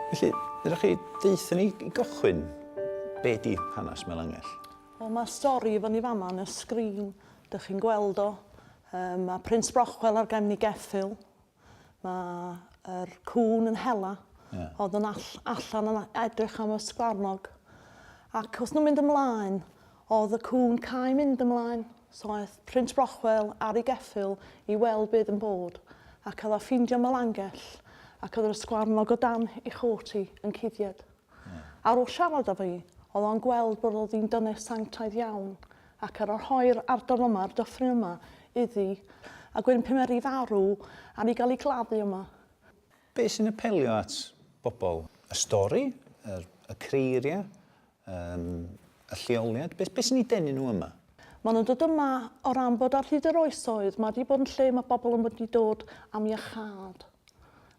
Felly, ydych chi deutha ni i gychwyn be di hanes Melangell? Wel, mae'r stori i fyny fama yn y sgrin. Dych chi'n gweld o. Um, mae Prince Brochwel ar gefn ei geffyl. Mae yr cŵn yn hela. Ie. Oedd yn all, allan yn edrych am y sgwarnog. Ac wrth nhw'n mynd ymlaen, oedd y cŵn cael mynd ymlaen. So aeth Prins Brochwel ar ei geffyl i weld beth yn bod. Ac oedd a ffeindio Melangell. Ac oedd yr ysgwarnog o dan ei chôt hi yn cuddied. Ar ôl siarad â fi, oedd o'n gweld bod o ddyn dynes sanctaidd iawn, ac ar ôl rhoi'r ardal yma, a'r dyffryn yma, iddi, a gwyn pymeri farw ar ei gael ei gladdu yma. Be' sy'n apelio at bobl? Y stori? Yr, y creiriau? Yym, y lleoliad? Be', be' sy'n eu denu nhw yma? Maen nhw'n dod yma o ran bod ar hyd yr oesoedd, mae 'di bod yn lle mae bobl yn mynd i dod am iachâd.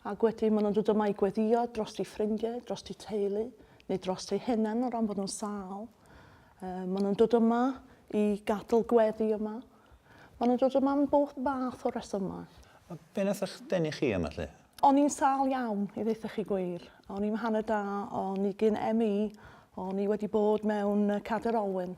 Ac wedyn maen nhw'n dod yma i gweddio dros eu ffrindiau, dros eu teulu, neu dros eu hunain o ran bod nhw'n sal. Um, maen nhw'n dod yma i gadl gweddi yma. Maen nhw'n dod yma am bob fath o resymau. A be nath eich denu chi yma lle? O'n i'n sal iawn, i ddeitha chi gwir. O'n i'n hanner da, o'n i gyn ME, o'n i wedi bod mewn Cader Olwyn.